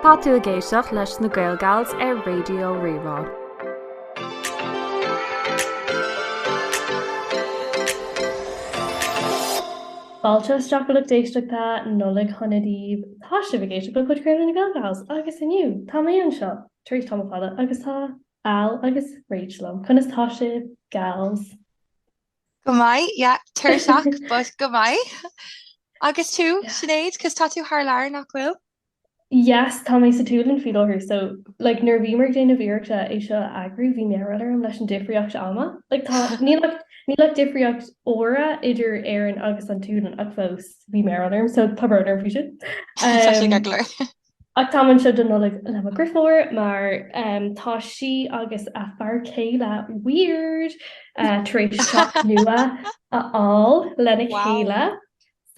Tá tú ag éisteacht leis na GaelGals ar Raidió Rí-Rá. Fáilte isteach a lucht éisteachta Nollaig Shona daoibh! Tá sibh ag éisteacht le podchraoladh na GaelGals agus inniu tá mé anseo tar éis tamall fada agus tá Al agus Rach liom. Conas tá sibh, gals? Go maith, yeah, tuirseach, but go maith. Agus tú, Sinéad, cos tá tú thar lear, nach bhfuil? Yes, tá mé sa tSualainn faoi láthair, so, like, nuair a bhíomar ag déanamh iarrachta é seo a eagrú, bhí mearbhall orm leis an difríocht ama. Like, tá, níl ach, níl ach difríocht uaire idir Éirinn agus an tSualainn, ach fós, bhí mearbhall orm, so tá brón orm faoi sin. Tá sé go leor. Ach táim anseo don Nollaig le mo dheirfiúr mar tá sí agus a fear céile weird tar éis teach nua a fháil lena chéile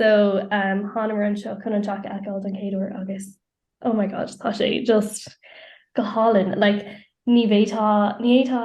so thánamar anseo chun an teach a fheiceáil don chéad uair agus oh my god tá sé just go hálainn like ní bhféadfá ní fhéadfá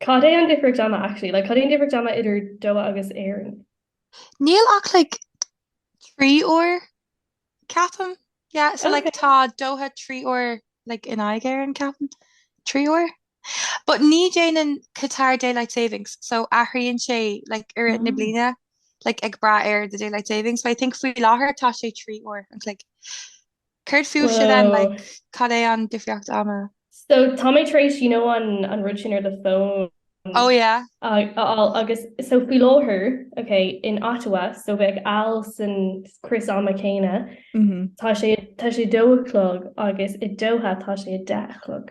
Cad é an difríocht ama, actually? Like, cad é an difríocht ama idir Doha agus Éirinn? Níl ach like trí uair, ceapaim. Yeah, so like tá Doha trí uair like in aghaidh Éireann, ceapaim. Trí uair. But ní déanann Qatar Daylight Savings, so athraíonn sé like i rith na bliana like ag brath ar the Daylight Savings. But I think faoi láthair tá sé trí uair an chloig. Céard fúibhse then, like, cad é an difríocht ama? So tá mé tar éis, you know, an an rud sin ar the phone. Oh yeah. a fháil agus so faoi láthair, ok, in Ottawa, so bheadh Al san crios ama céanna, tá sé tá sé a dó a chlog agus i Doha tá sé a deich a chlog.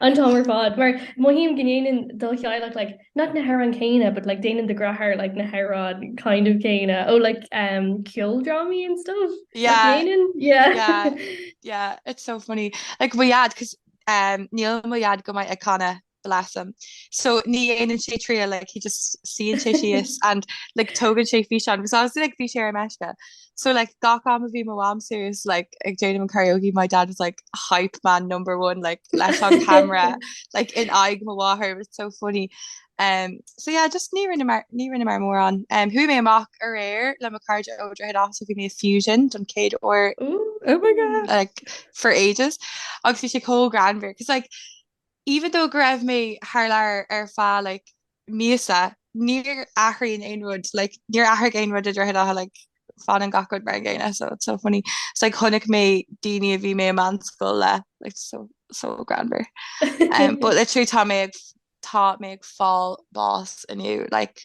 an t-am ar fad, mar mothaím go ndéanann do theaghlach like, not na hamhráin céanna, but like, déanann do dheartháir like, na hamhráin kind of céanna ó oh, like, um, ceoldrámaí and stuff. Yeah. Like, déanann? Yeah. yeah. Yeah, it's so funny. Like, mo dhaid, because um, níl mo dhaid go maith ag canadh bless him so ní dhéanann sé triail like he just suíonn sé síos and like tógann sé físeán because I was like bhí sé ar meisce so like gach am a bhí mo am serious like ag déanam an karaoke my dad was like hype man number one like leis an camera like in aig mo wahar was so funny um so yeah just ní rinne mar ní rinne mar mór an um hu mé amach ar air le ma card over head also give me a fusion don céad or oh my god like for ages agus sé có granver cos like even though go raibh mé thar lear ar feadh like míosa níor athraíonn aon rud like níor athraigh aon rud i Droichead Átha like fanann gach rud mar an gcéanna so it's so funny it's like chonaic mé daoine a bhí mé i meánscoil le like so so greannmhar um, but literally tá mé ag tá mé ag fáil bás inniu like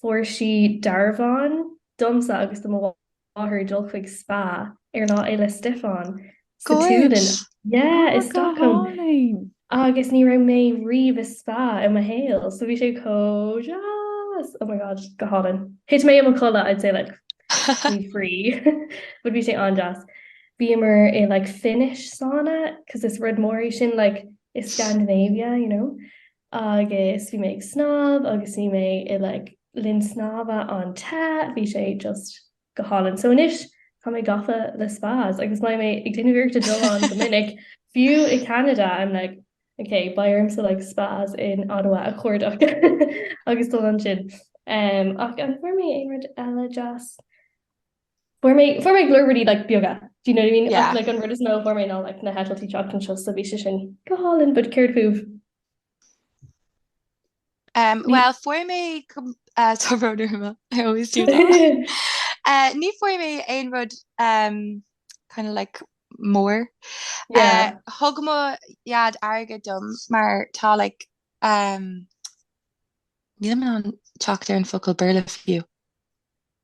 Fuair sí dearbhán domsa agus do mo mháthair dul chuig spa ar Lá Fhéile Stiofáin sa tSualainn. Yeah, i Stockholm. Agus ní raibh mé riamh i spa i mo shaol, so bhí sé chomh deas. Oh my god, go hálainn. Thit mé i mo chodladh, I'd say like faoi thrí, but bhí sé an-deas. Bhíomar i like Finnish sauna, cause is rud mór iad sin like i Scandinavia, you know. agus bhí mé ag snámh agus bhí mé i like linn snámha an-te, bhí sé just go hálainn. So anois tá mé gafa le spas agus beidh mé ag déanamh iarracht dul ann go minic, fiú i Ceanada I'm like ok beidh ormsa like spas in Ottawa a chuardach agus dul ansin. Umm ach an bhfuair mé aon rud eile deas? Fuair mé fuair mé go leor rudaí like beaga do you know what I mean? Yeah. Ach like an rud is mó a fuair mé ná like na heitiltí teacht anseo so bhí sé sin go hálainn but céard fúibh? Um, Ní- well, fuair mé com- uh, tá rud ar m'intinn. I always do that. Uh, ní fuair mé aon rud um, kind of like mór. Yeah. Uh, thug mo dhaid airgead dom mar tá like um, níl mé in ann teacht ar an focal Béarla fiú.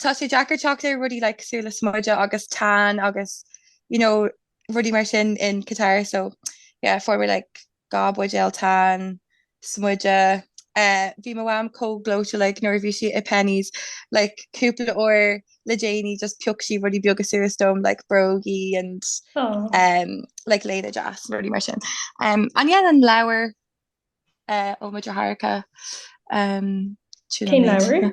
Tá sé deacair teacht ar rudaí like cosúil le smideadh agus tan agus you know rudaí mar sin in Qatar so yeah fuair mé like dhá buidéal tan, smideadh, eh, bhí mo mham chomh gleoite like nuair a bhí sí i Penneys like cúpla uair le déanaí just pioc sí rudaí beaga suas dom like brógaí and Oh. um, like léine deas rudaí mar sin. Um, and yeah an leabhar uh, ó mo dheartháireacha um, Cén leabhar?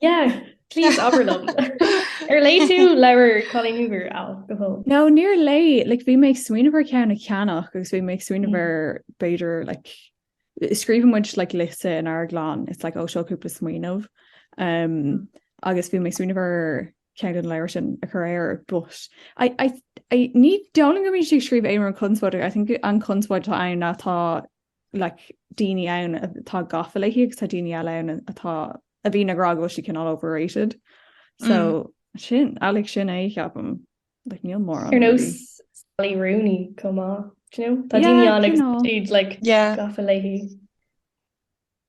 Yeah, please abair liom. Ar léigh tú leabhar Colleen Hoover, Al, go fóill? No, níor léigh. Like, bhí mé ag smaoineamh ar ceann a cheannach agus bhí mé ag smaoineamh ar b'fhéidir like, scríobhaimid like, liosta in ár gclann, it's like, ó seo cúpla smaoineamh. Um, agus bhí mé ag smaoineamh ar ceann den leabhar sin a chur air, but I, I, I, ní dóigh liom go mbíonn sí ag scríobh aon rud conspóideach. I think an conspóid atá ann ná tá like daoine ann atá gafa léi agus tá daoine eile ann atá a bhíonn ag rá go bhfuil sí cineál overrated. So mm. sin é like sin é ceapaim like, níl mór an. Ar nós Sally Rooney chomh maith. Tá daoine ann atá like gafa léi.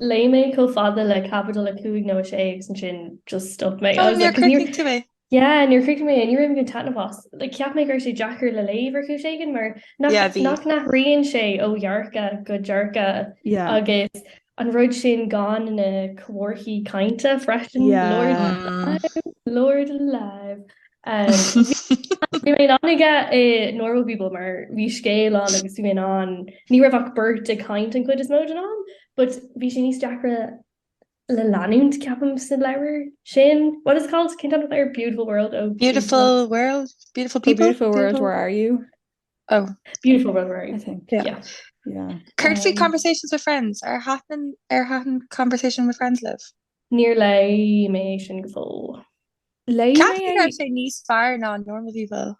Léigh mé chomh fada le caibidil 5 nó 6 agus ansin just stop mé. Oh, níor chríochnaigh tú é? Yeah, níor chríochnaigh mé é, ní raibh mé ag baint taitneamh as. Like, cheap mé go raibh sé deacair le léamh ar chúis éigin mar nach, Yeah, bhí. nach n-athraíonn sé ó dhearcadh go dearcadh Yeah. agus an rud sin gan na comharthaí cainte freisin, Yeah. Lord, Mm. Lord alive. Bhí mé an-tógtha le Normal People mar bhí scéal an agus bhí mé an ní raibh ach beirt ag caint an chuid is mó den am, but bhí sé níos deacra le leanúint ceapaim sa leabhar sin. What is it called ceann an ar beautiful world oh beautiful world beautiful people beautiful world where are you oh beautiful world where are you I think yeah yeah, yeah. Currently um, conversations with friends are happening are happening conversation with friends live. Níor léigh mé é sin go fóill. Léigh mé é. Ceapaim go raibh sé níos fearr ná an Normal People.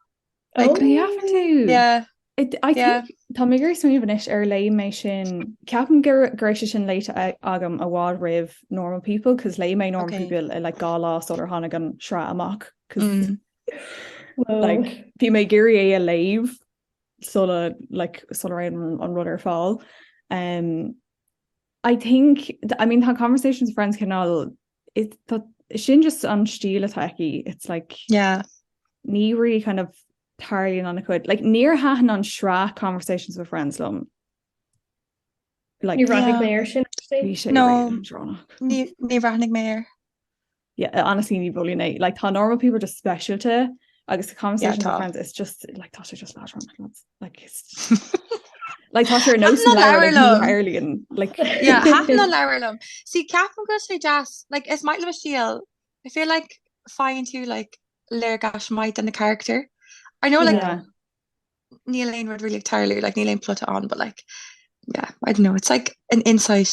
Ó! You have to. Yeah. I think, Yeah. tá mé ag smaoineamh anois ar léigh mé sin, ceapaim go go raibh sé sin léite a- agam i bhfad roimh Normal People, 'cause léigh mé Normal Ok. People i like dhá lá sular tháinig an tsraith amach, 'cause Mm. Whoa. like bhí mé ag iarraidh é a léamh sula like sula raibh an an rud ar fáil. Em, I think, I mean tá conversations friends canál sin just an stíl atá aici it's like yeah. ní ri kind of tarlíon an chud like níor hatan an srá conversations with friends lom like, yeah. mé sin no ní ranig mé yeah, honestly ní bhfuil é like tá normal people just specialte agus conversation yeah, friends it's just like tá sé just lá like like tá sé no Ireland like yeah half na leirlam si cap go sé jazz like is might le síal I feel like fine tú like leir gas might an the character I know like yeah. Neil Lane would really entirely like Neil Lane plot on but like yeah I don't know it's like an insight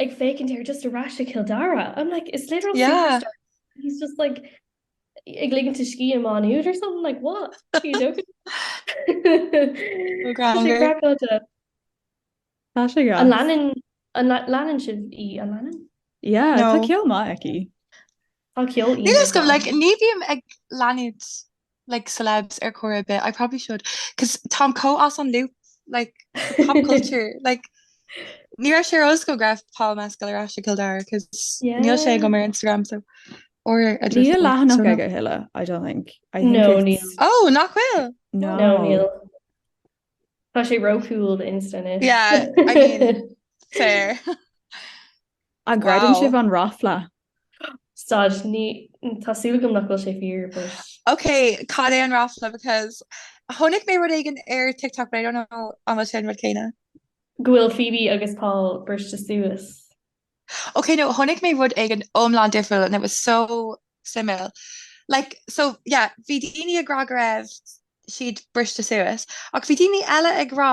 ag féicint ar just aráiste Kill Dara I'm like it's literal yeah he's just like ag ligin te ski am on nude or something like what an lenin an lenin si í an lenin yeah no. tá ceol má aici Tá ceol Níl aoibhinn ag agam, dul. like, ní bhím ag leanúint like celebs ar chor ar bith, I probably should, cos táim chomh as an loop like pop culture, like ní raibh sé ar eolas agam go raibh Paul Mescal ar ais i gCill Dara, cos níl sé Yeah. agam ar Instagram, so, or a Níl Twitter, leathanach so no. aige a thuilleadh, I don't think. I think No, it's- níl. Oh, nach bhfuil? No, No, níl. Tá sé ró-cool do Insta anois. Yeah, I mean, fair. An gcreideann sibh an ráfla? Stad, ní, tá súil agam nach bhfuil sé fíor, but. Ok, cad é an ráfla because chonaic mé rud éigin ar TikTok but I don't know an bhfuil sé an rud céanna? Go bhfuil Phoebe agus Paul briste suas. Ok no chonaic mé rud éigin iomlán difriúil and it was so suimiúil like so yeah bhí daoine ag rá go raibh siad briste suas ach bhí daoine eile ag rá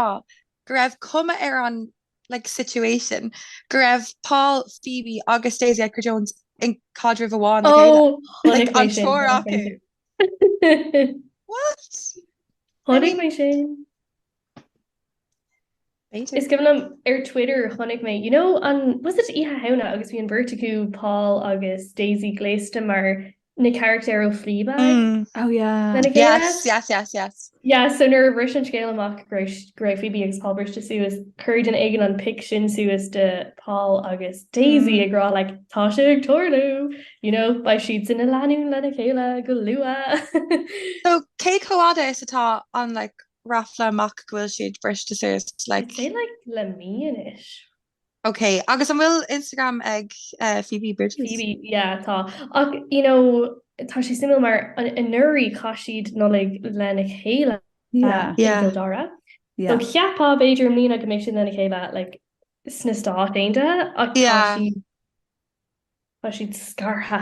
go raibh cuma ar an like situation go raibh Paul, Phoebe agus Daisy Edgar Jones i gcaidreamh amháin le chéile. Oh like an triúr acu. What? Chonaic mé sin. Is cuimhin liom ar Twitter chonaic mé you know an was it Oíche Shamhna agus bhí an bheirt acu Paul agus Daisy gléasta mar na carachtair ó Fleabag. Mm. Oh yeah. Lena chéile? Yes, yes, yes, yes. Yeah, so nuair a bhris an scéal amach go raibh go raibh Phoebe agus Paul briste suas, chuir duine éigin an pic sin suas de Paul agus Daisy Mm. ag rá like tá sé ag tarlú, you know, beidh siad sin ina lánúin lena chéile go luath. So cé chomh fada is atá an like ráfla amach go bhfuil siad briste suas like. I'd say like le mí anois. Ok, agus an bhfuil Instagram ag Phoebe Bridgers? Phoebe, yeah, tá. Ach, you know, tá sé suimiúil mar anuraidh chaith siad Nollaig lena chéile i gCill Dara. So cheapfá b'fhéidir i mbliana go mbeidh siad lena chéile like sna Stáit Aontaithe ach tá siad, tá siad scartha.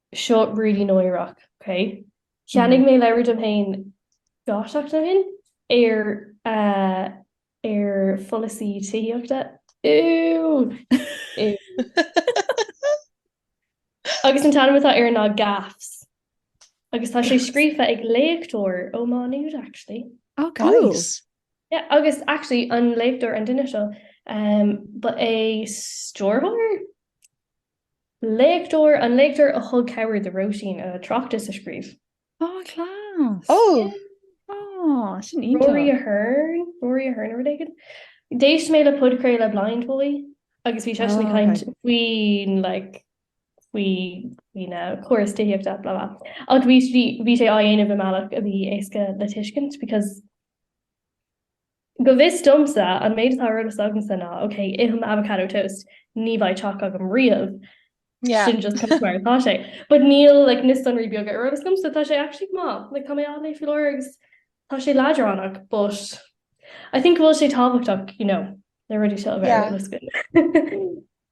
Seo really náireach, ok. Cheannaigh mé leabhar dom féin gáiteacht a haon ar ar pholasaí tithíochta. Ew! Agus an t-ainm atá air ná Gaffs. Agus tá sé scríofa ag léachtóir ó Má Nuad actually. Oh guys! Yeah, agus actually an léachtóir, an duine seo, um, ba é stiúrthóir? Léachtóir, an léachtóir a thug cabhair do Róisín a tráchtas a scríobh. Á, class! Ó! Á, sin iontach! Rory Hearne, Rory Hearne nó rud éigin. D'éist mé le podchraoladh Blindboy agus bhí seisean ag caint faoin, like, faoi, faoin, eh, córas tithíochta, blah, blah. Ach bhí, bhí, bhí sé á dhéanamh i mbealach a bhí éasca le tuiscint because, Go bhfios domsa, an méid atá ar eolas agamsa ná ok, ithim avocado toast, ní bheidh teach agam riamh, sin just cos mar atá sé. But níl like na sonraí beaga ar eolas domsa, tá sé actually go maith, like tá mé á léamh faoi láthair agus tá sé leadránach, but I think go bhfuil sé tábhachtach, you know, na rudaí seo a bheith ar eolas.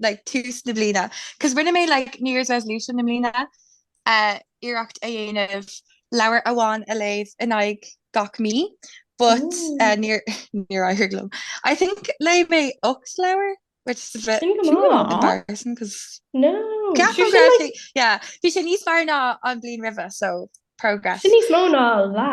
like tús na bliana cos rinne mé like New Year's resolution na bliana uh, iarracht a dhéanamh leabhar amháin a léamh in aghaidh gach mí but uh, níor níor éirigh liom I think léigh mé 8 leabhar which is a bit Sin go maith. Má. embarrassing cos No. Ceapaim Sure, go sin raibh like- sé- yeah, bhí sé níos fearr ná an bliain roimhe so progress Sin níos mó ná lá.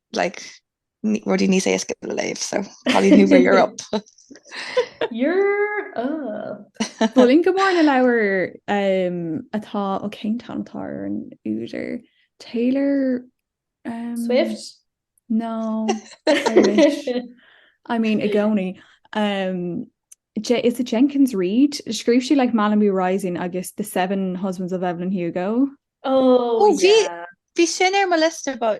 like rudaí níos éasca le léamh so Colleen Hoover you're up You're up Is maith liom go mór na leabhar um, atá ó oh, cén t-ainm atá ar an údar Taylor um, Swift? No I mean i gcónaí um, Je is it Jenkins Reid scríobh sí like, Malibu Rising agus the Seven Husbands of Evelyn Hugo. Oh, oh yeah. Bhí sin ar mo list about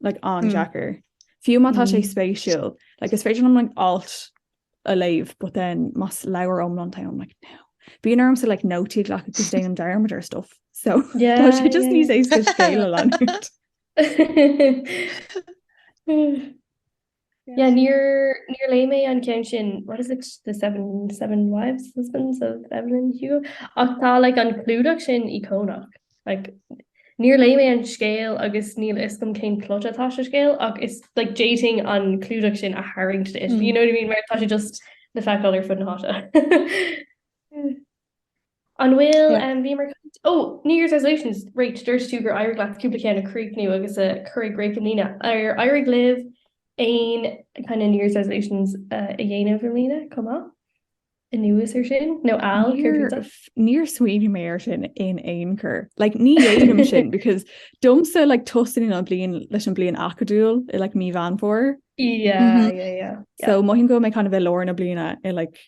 like an-deacair. Fiú má tá sé spéisiúil, like is féidir liom like alt a léamh, but then más leabhar iomlán é I'm like no. Bíonn orm saghas like nótaí a ghlacadh agus déanaim dearmad ar stuff. So tá sé just níos éasca scéal a leanúint. Yeah, níor, níor léigh mé an ceann sin, what is it, the seven, seven wives, husbands of Evelyn Hugo? Ach tá, like, an clúdach sin íocónach. Like, níor léigh mé an scéal agus níl fhios agam cén plot atá sa scéal, ach is, like, d'fhéadfainn an clúdach sin a tharraingt duit, do you know what I mean, mar tá sé just le feiceáil ar fud na háite. An bhfuil, bhíomar ag caint, oh, New Year's Resolutions, right, dúirt tú gur éirigh leat cúpla ceann a chríochnú agus a chur i gcrích i mbliana. Ar éirigh libh aon kind of New Year's Resolutions a dhéanamh i mbliana, chomh maith, anuas ar sin? Nó Al, céard fútsa? Níor smaoinigh mé air sin in aon chor. Like, ní dhéanaim é sin because domsa, like, tosaíonn an bhliain leis an bhliain acadúil i like Mí Mheán Fómhair. Yeah, yeah, yeah. So mothaím go bhfuil mé kind of i lár na bliana i like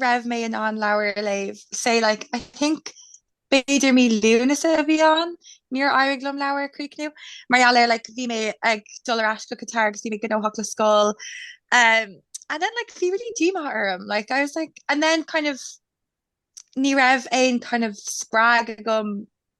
raibh mé in ann leabhar a léamh, say like I think b'fhéidir mí Lúnasa a bhí ann, níor éirigh liom leabhar a chríochnú mar gheall ar like bhí mé ag dul ar ais go Qatar agus bhí mé gnóthach le scoil um and then like bhí really díomá orm like I was like and then kind of ní raibh aon kind of spreagadh agam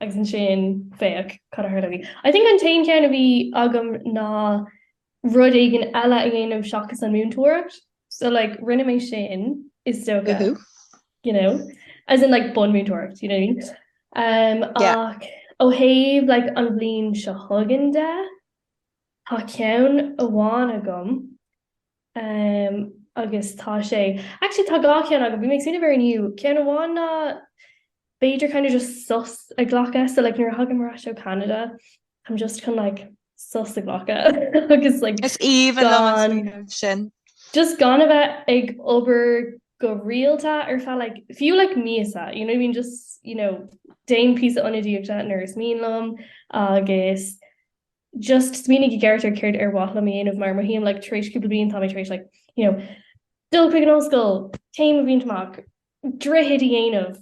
agus ansin féach cad a tharla. I think an t-aon cheann a bhí agam ná rud éigin eile a dhéanamh seachas an mhúinteoireacht. So like rinne mé sin is dócha. Woohoo. You know? As in like bunmhúinteoireacht, you know what I mean? Um, yeah. Ach ó thaobh like an bhliain seo chugainn de, tá ceann amháin agam agus tá sé, actually tá dhá cheann agam, bhí mé ag smaoineamh air inniu, ceann amháin ná b'fhéidir kind of just sos a ghlacadh, so like nuair a thagaim ar ais ó Canada I'm just chun like sos a ghlacadh agus like Is aoibhinn liom an smaoineamh sin. just gan a bheith ag obair go rialta ar feadh like fiú like míosa, you know what I mean, just you know déan píosa ionadaíochta nuair is mian liom agus just smaoinigh i gceart ar céard ar mhaith liom a dhéanamh mar mothaím like tar éis cúpla bliain tá mé tar éis like you know dul chuig an ollscoil, céim a bhaint amach, Droichead a dhéanamh,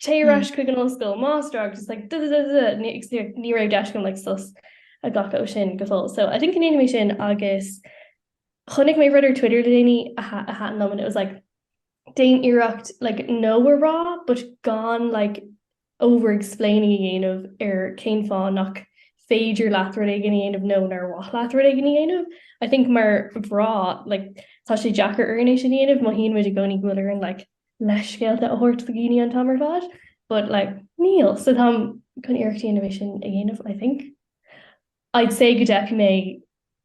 téigh ar ais chuig an ollscoil, máistreacht agus just like dududududu ní agus ní ní raibh deis agam like sos a ghlacadh ó sin go fóill so I think go ndéanfaidh mé sin agus chonaic mé rud ar Twitter le déanaí a a thaitin liom and it was like déan iarracht like no a rá but gan like over-explaining a dhéanamh ar cén fáth nach féidir leat rud éigin a dhéanamh nó nár mhaith leat rud éigin a dhéanamh. I think mar mhná, like, tá sé deacair orainn é sin a dhéanamh, mothaíonn muid i gcónaí go bhfuil orainn, like, leithscéalta a thabhairt do dhaoine an t-am ar fad, but, like, níl. So táim chun iarracht a dhéanamh é sin a dhéanamh, I think. I'd say go dteipfidh mé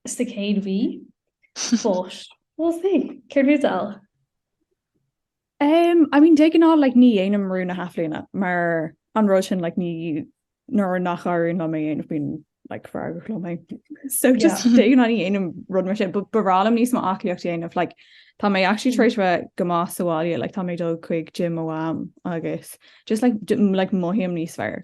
sa chéad mhí, but we'll see. Céard fútsa Al? Um, I mean, de ghnáth, like, ní dhéanaim rúin na hathbhliana, mar an rud sin, like, ní, nuair nach n-éiríonn liom é a dhéanamh bím, like, feargach liom féin. So just yeah. de ghnáth ní dhéanaim rud mar sin, but b'fhearr liom níos mó aclaíocht a dhéanamh, like, tá mé actually tar éis mm. a bheith go maith sa bháile, like, tá mé ag dul chuig gym ó am agus just, like, like, mothaím níos fearr.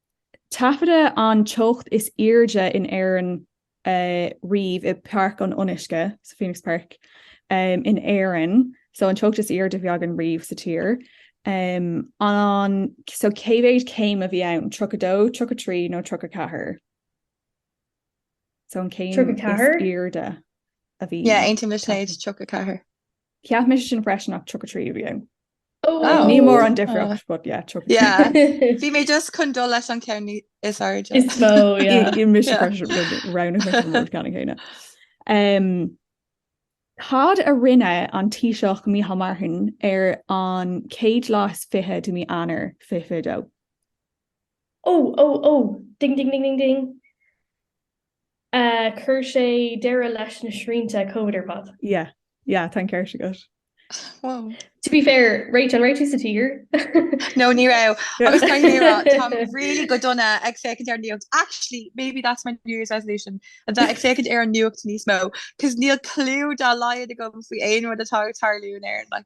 Taifeadadh an teocht is airde in Éirinn riamh i bPáirc an Fhionnuisce, so Phoenix Park, in Éirinn, so an teocht is airde a bhí againn riamh sa tír. An, so cé mhéad céim a bhí ann, tríocha dó, tríocha trí nó tríocha ceathair? So an céim is airde a bhí. Yeah, aontaím leis sin, tríocha ceathair. Cheap mise sin freisin ach 33 a bhí ann. Ní mór an difríocht but yeah, 33. Bhí mé just chun dul leis an ceann is airde. Is mó, yeah. Bhí mise freisin ar an mbealach céanna. Um, cad a rinne an Taoiseach Micheál Martin ar an chéad lá is fiche de mhí Eanáir 2022? Ó, ó, ó, ding, ding, ding, ding, ding. Chuir sé deireadh leis na srianta Covid ar fad. Yeah, yeah, tá an ceart agat. Wow. To be fair, right, an raibh tú sa tír? No, ní raibh. Agus tá mé, táim really go dona ag féachaint ar an nuacht. Actually, maybe that's my New Year's resolution, a bheith ag féachaint ar an nuacht níos mó, 'cause níl cliú dá laghad agam faoi aon rud atá ag tarlú in Éirinn, like.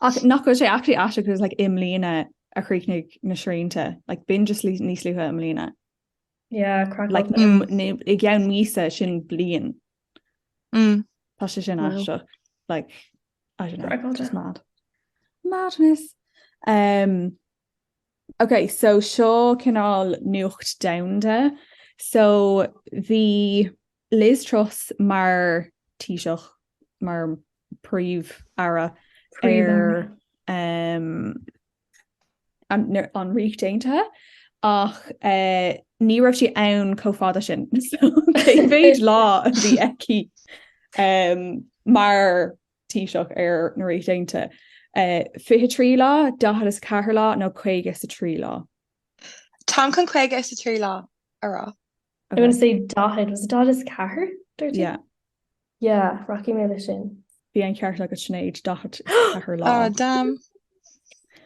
Ach nach bhfuil sé actually aisteach agus like, i mbliana a chríochnaigh na srianta, like, bhí sé just níos luaithe i mbliana. Yeah, like, mm, i gceann míosa sin bliain. Mm. Tá sé sin aisteach. Like, I don't know, just mad. Madness. Um, Ok, so seo cineál nuacht domhanda, so bhí Liz Truss mar Taoiseach, mar Phríomh-Aire ar an Ríocht Aontaithe ach ní raibh sí ann chomh fada sin. So cé mhéad lá a bhí aici mar Taoiseach ar na Ríocht Aontaithe? 23 lá, 44 lá nó 53 lá? Táim chun 53 lá a rá. I want to say daichead, was it daichead is ceathair dúirt tú? Yeah. Yeah, rachaidh mé leis sin. Bhí an ceart ag Sinéad daichead is ceathair lá. Ah, damn.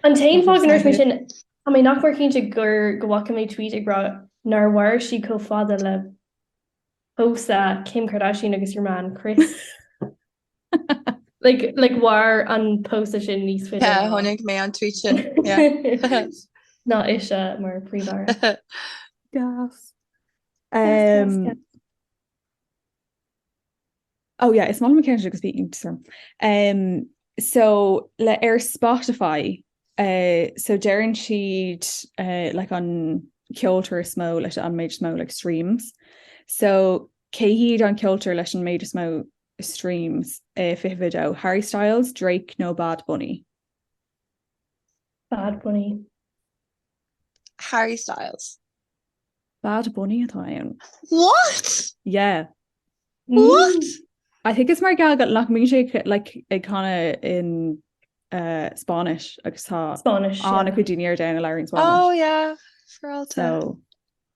An t-aon fáth go ndúirt mé sin ná, tá mé nach mór cinnte gur go bhfaca mé tweet ag rá nár mhair sí chomh fada le pósadh Kim Kardashian agus your man Kris. Like mhair an pósadh sin níos faide. Yeah, chonaic mé an tweet sin. Yeah. Ná ise mar phríomh-aire. Gas. Um, oh yeah, is mala McKenzie agus bhí inter. Um, so le ar Spotify, uh, so deireann siad uh, like an ceoltóir is mó leis an méid is mó like streams. So cé hiad an ceoltóir leis an méid is mó streams, i fiche fiche a dó. Harry Styles, Drake nó Bad Bunny? Bad Bunny. Harry Styles. Bad Bunny atá ann. What? Yeah. What? I think is mar geall go nach mbíonn sé ag- like, ag canadh in uh, Spáinnis agus tá Spáinnis. an-chuid daoine ar domhan a labhraíonn Spáinnis. Oh yeah, Peralta. So,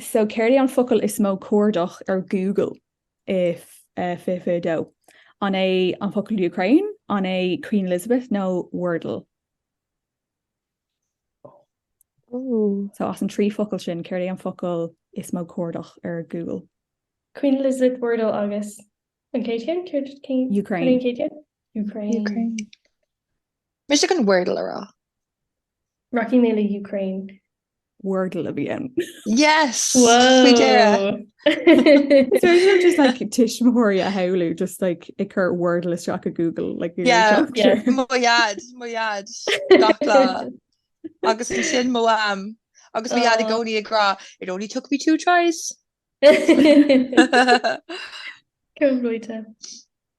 so céard é an focal is mó cuardaithe ar Google i 2022? An é an focal Ukraine? An é Queen Elizabeth nó Wordle? Ooh. So as an trí focal sin céard é an focal is mó cuardaithe ar Google. Queen Elizabeth Wordle agus an ceann eile Ukraine Ukraine Ukraine. Mise ag Wordle a rá. Rachaidh mé le Ukraine. Wordle a bhí ann. Yes! Faoi dheireadh. So is féidir just like tuismitheoirí a shamhlú just like ag cur Wordle isteach i Google like Google Yeah, yeah. Mo dhaid, mo dhaid. Gach lá. Agus ansin mo mham. Agus mo dhaid i gcónaí ag rá, it only took me two tries. Cumhluíte.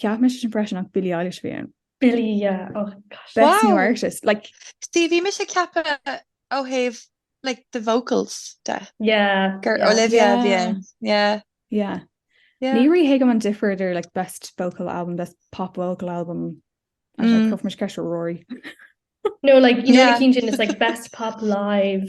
Ceap me sin freisin nach Billy Eilish bhí an. Billy artist oh, like Steve bhí me sé ceapa ó heh like the vocals de yeah gur Olivia bhíon yeah yeah Ní ri hé go an difriidir like best vocal album best pop vocal album mm. prof me ce roií No like you yeah. know, is like best pop live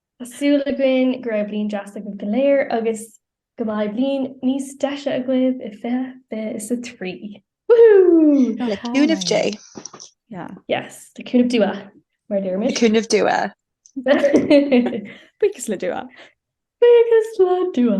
Tá súil againn go raibh bliain deas agaibh go léir agus go mbeidh bliain níos deise agaibh i 2023! Woohoo! Le cúnamh Dé! Yes, le cúnamh Dua, mar a deirimid. Le cúnamh Dua! Buíochas le Dua! Buíochas le Dua!